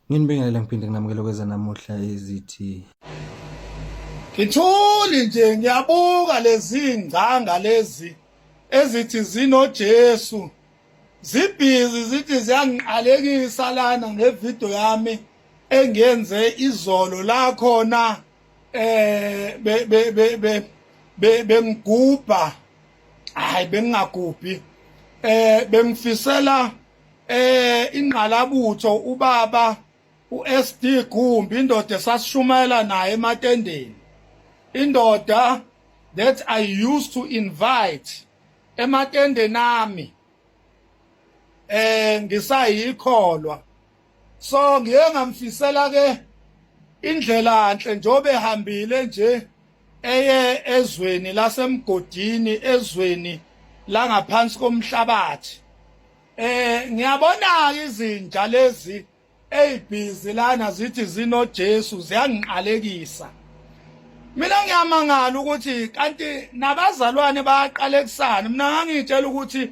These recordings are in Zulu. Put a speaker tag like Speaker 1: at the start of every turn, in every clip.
Speaker 1: Nginibingelela ngiphinde nginamukele kweza namuhla ezithi
Speaker 2: Ngithuli nje ngiyabuka lezi ngcanga lezi ezithi zinoJesu zibhizi zithi ziyangiqalekisa lana ngevideo yami engiyenze izolo la khona eh be be be be bengigubha hayi bengingagubhi eh bengifisela eh ingqalabutho ubaba uSD Gumbi indoda esasishumayela naye ematendeni indoda that I used to invite ematendeni ami eh ngisayikholwa so ngiye ngamfisela ke indlela nhle njobe hambile nje eye ezweni lasemgodini ezweni langaphansi komhlabathi eh ngiyabona izinja lezi ezibhizi lana zithi zino Jesu ziyangiqalekisa mina ngiyamangala ukuthi kanti nabazalwane bayaqalekusana mina ngangitshela ukuthi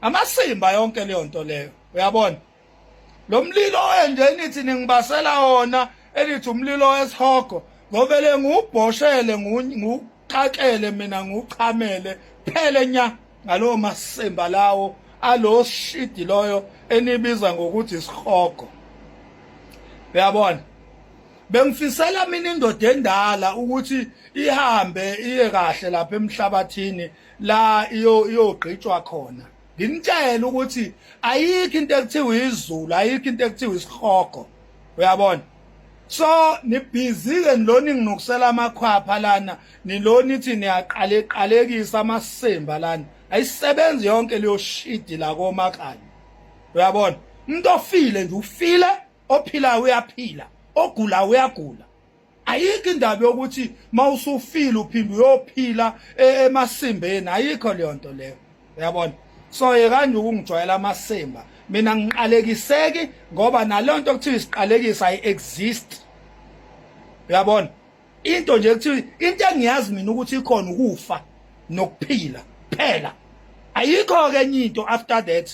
Speaker 2: amasimba yonke leyo nto leyo uyabona lo mlilo enje nithi ningibasela wona elithi umlilo wesihogo ngobele ngubhoshele nguqakele mina nguchamele phele nya ngalowo masimba lawo alo shidi loyo enibiza ngokuthi isihogo uyabona bengifisela mina indoda endala ukuthi ihambe iye kahle lapha emhlabathini la iyo iyogqitshwa khona nginitshela ukuthi ayikho into ekuthiwa izulu ayikho into ekuthiwa isihogo uyabona so nibhizi-ke nilona inginukisela amakhwapha lana nilona ithi niyaqaleqalekisa amasimba lana ayisebenzi yonke leyo shidi la komakanye uyabona umuntu ofile nje ufile ophilayo uyaphila ogulayo uyagula ayikho indaba yokuthi mawusufile uphinde uyophila e-, emasimbeni ayikho leyo nto leyo uyabona so yekanje ukungijwayela amasimba mina ngiqalekiseki ngoba nalonto kuthiwa isiqalekisa ayi exist uyabona into nje kuthiwa into engiyazi mina ukuthi ikhona ukufa nokuphila phela ayikho ke enye into after that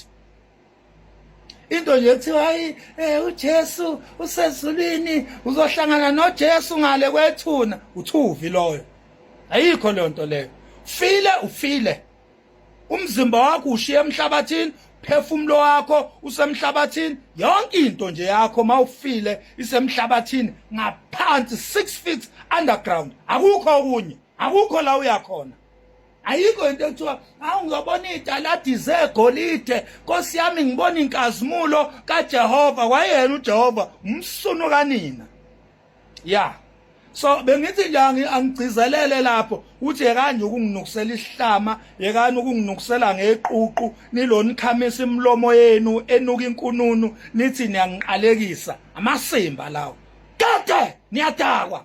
Speaker 2: into nje kuthiwa hayi eh uJesu usezulwini uzohlangana noJesu ngale kwethuna uthuvi loyo ayikho leyo nto leyo file ufile umzimba wakho ushiye emhlabathini phefumulo wakho usemhlabathini yonke into nje yakho mawufile isemhlabathini ngaphansi 6 feet underground akukho okunye akukho la uyakhona ayikho into ekuthiwa awu ngizobona italadi zegolide nkosi yami ngibona inkazimulo kajehova wayena ujehova umsunu kanina ya so bengithi nje angigcizelele lapho uthi yekanje ukunginukisela isihlama yekani ukunginukisela ngeququ nilona ikhamisa imilomo yenu enuka inkununu nithi niyangiqalekisa amasimba lawo kade niyadakwa